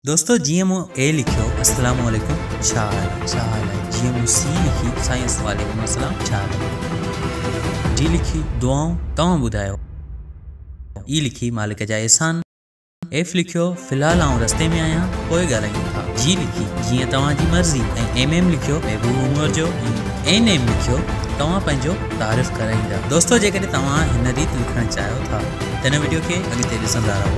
دوستو جيئن مون اي لکيو السلام عليڪم ڇا حال ڇا حال آهي جيئن مون سي لکي سائين وعليڪم السلام ڇا حال آهي ڊي لکي دعائون توهان ٻڌايو اي لکي مالڪ جا احسان ايف لکيو في الحال آئون رستي ۾ آهيان پوء ڳالهايون ٿا جي لکي جيئن توهان جي مرضي ۽ ايم ايم لکيو محبوب عمر جو ۽ اين ايم لکيو توهان پنهنجو تعارف ڪرائيندا دوستو جيڪڏهن توهان هن ريت لکڻ چاهيو ٿا ته هن وڊيو کي اڳتي ڏسندا رهو.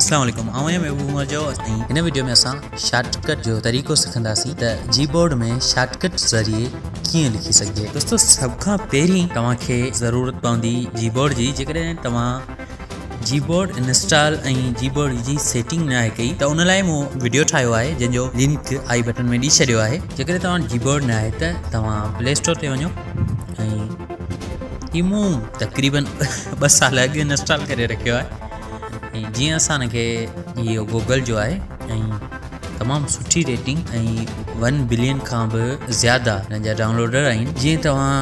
السلام عليڪم آئون آهيان محبوب عمر جو ۽ هن وڊيو ۾ اسان شارٽ ڪٽ جو طريقو سکنداسين ته جي بورڊ ۾ شارٽ ڪٽ ذريعي ڪيئن لکي سگهجي دوستو سڀ کان پهرين توهان کي ضرورت پوندي جي بورڊ جي جيڪڏهن توهان جي بورڊ انسٽال ۽ جي بورڊ جي سيٽنگ ناهي ڪئي ته ان لاء مون وڊيو ٺاهيو آهي جنهن جو لنڪ آئي بٽن ۾ ڏئي ڇڏيو آهي جيڪڏهن توهان جي بورڊ نه آهي ته توهان پلي اسٽور تي وڃو ۽ مون تقريبن ٻه سال اڳ انسٽال ڪري رکيو آهي ۽ جيئن اسان کي اهو گوگل جو آهي ۽ تمام سٺي ريٽنگ ۽ ون بلين کان به زياده هن جا ڊائونلوڊر آهن جيئن توهان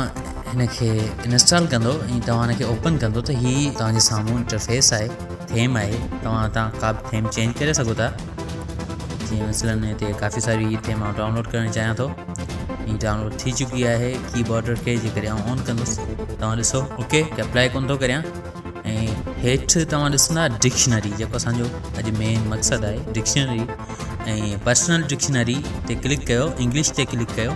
هن کي انسٽال ڪندو ۽ توهان هن کي اوپن ڪندو ته هي توهان جي سامهون انٽرفيس آهي ٿيم آهي توهان هتان ڪا به ٿيم چينج ڪري سگهو ٿا جيئن مثلا هتي ڪافي ساري هي ٿيم آئون ڊائونلوڊ ڪرڻ چاهيان ٿو هي ڊائونلوڊ ٿي چڪي آهي ڪي بورڊ کي جيڪڏهن آئون آن ڪندس توهان ڏسو اوڪي ته اپلائي ڪون ٿو ڪريان ۽ هيٺ توهان ڏسندا ڊڪشنري جيڪو اسانجو اڄ مين مقصد آهي ڊڪشنري ۽ پرسنل ڊڪشنري تي ڪلڪ ڪيو انگلش تي ڪلڪ ڪيو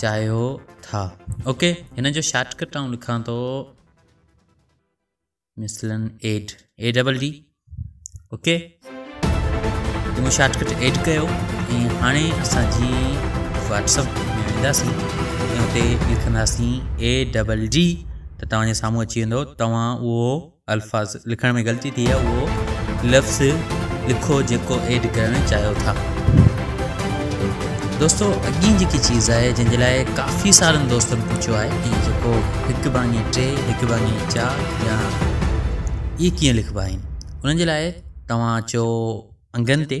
چاهيو ٿا. اوڪي هن جو شارٽ ڪٽ آئون لکان ٿو مثلا add A double D okay تمو شارٽ ڪٽ ايڊ ڪيو ۽ هاڻي اسان جي واتس اپ ۾ وينداسين ۽ اتي لکنداسين اي ڊبل ڊي ته توهان جي سامهون اچي ويندو توهان اهو الفاظ لکڻ ۾ غلطي ٿي آهي اهو لفظ لکو جيڪو ايڊ ڪرڻ چاهيو ٿا دوستو اڳين جيڪي چيز آهي جن جي لاء ڪافي سارن دوستن پڇيو آهي ته جيڪو هڪ ڀاڱي ٽي هڪ ڀاڱي چار يا اهي ڪيئن لکبا آهن انهن جي لاء توهان اچو انگن تي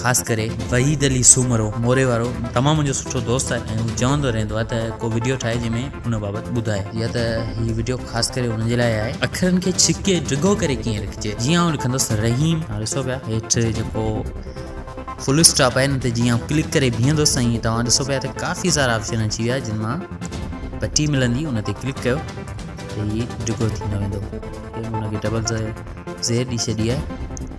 خاص ڪري وحيد علي سومرو موري وارو تمام منهنجو سٺو دوست آهي ۽ هو چوندو رهندو آهي ته ڪو وڊيو ٺاهي جنهن ۾ ان بابت ٻڌائي يا ته هي وڊيو خاص ڪري ان جي لاء آهي اکرن کي ڇڪي ڊگهو ڪري ڪيئن لکجي جيئن آئون لکندس رحيم هاڻ ڏسو پيا هيٺ جيڪو فل اسٽاپ آهي نه ته جيئن آئون ڪلڪ ڪري بيهندس سائين توهان ڏسو پيا ته ڪافي سارا آپشن اچي ويا جن مان پٽي ملندي ان تي ڪلڪ ڪيو ته هي ڊگهو ٿيندو ويندو ان کي ڊبل زير ڏي ڇڏي آهي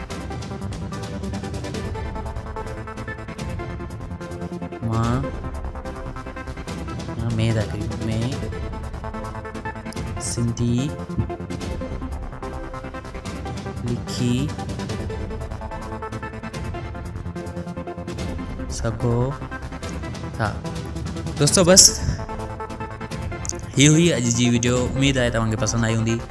ماء يا مي ٿا ڪريون مي سنڌي لکي سگھو ٿا دوستو بس هي هئي اڄ جي ويڊيو اميد آهي توهان کي پسند آئي هوندي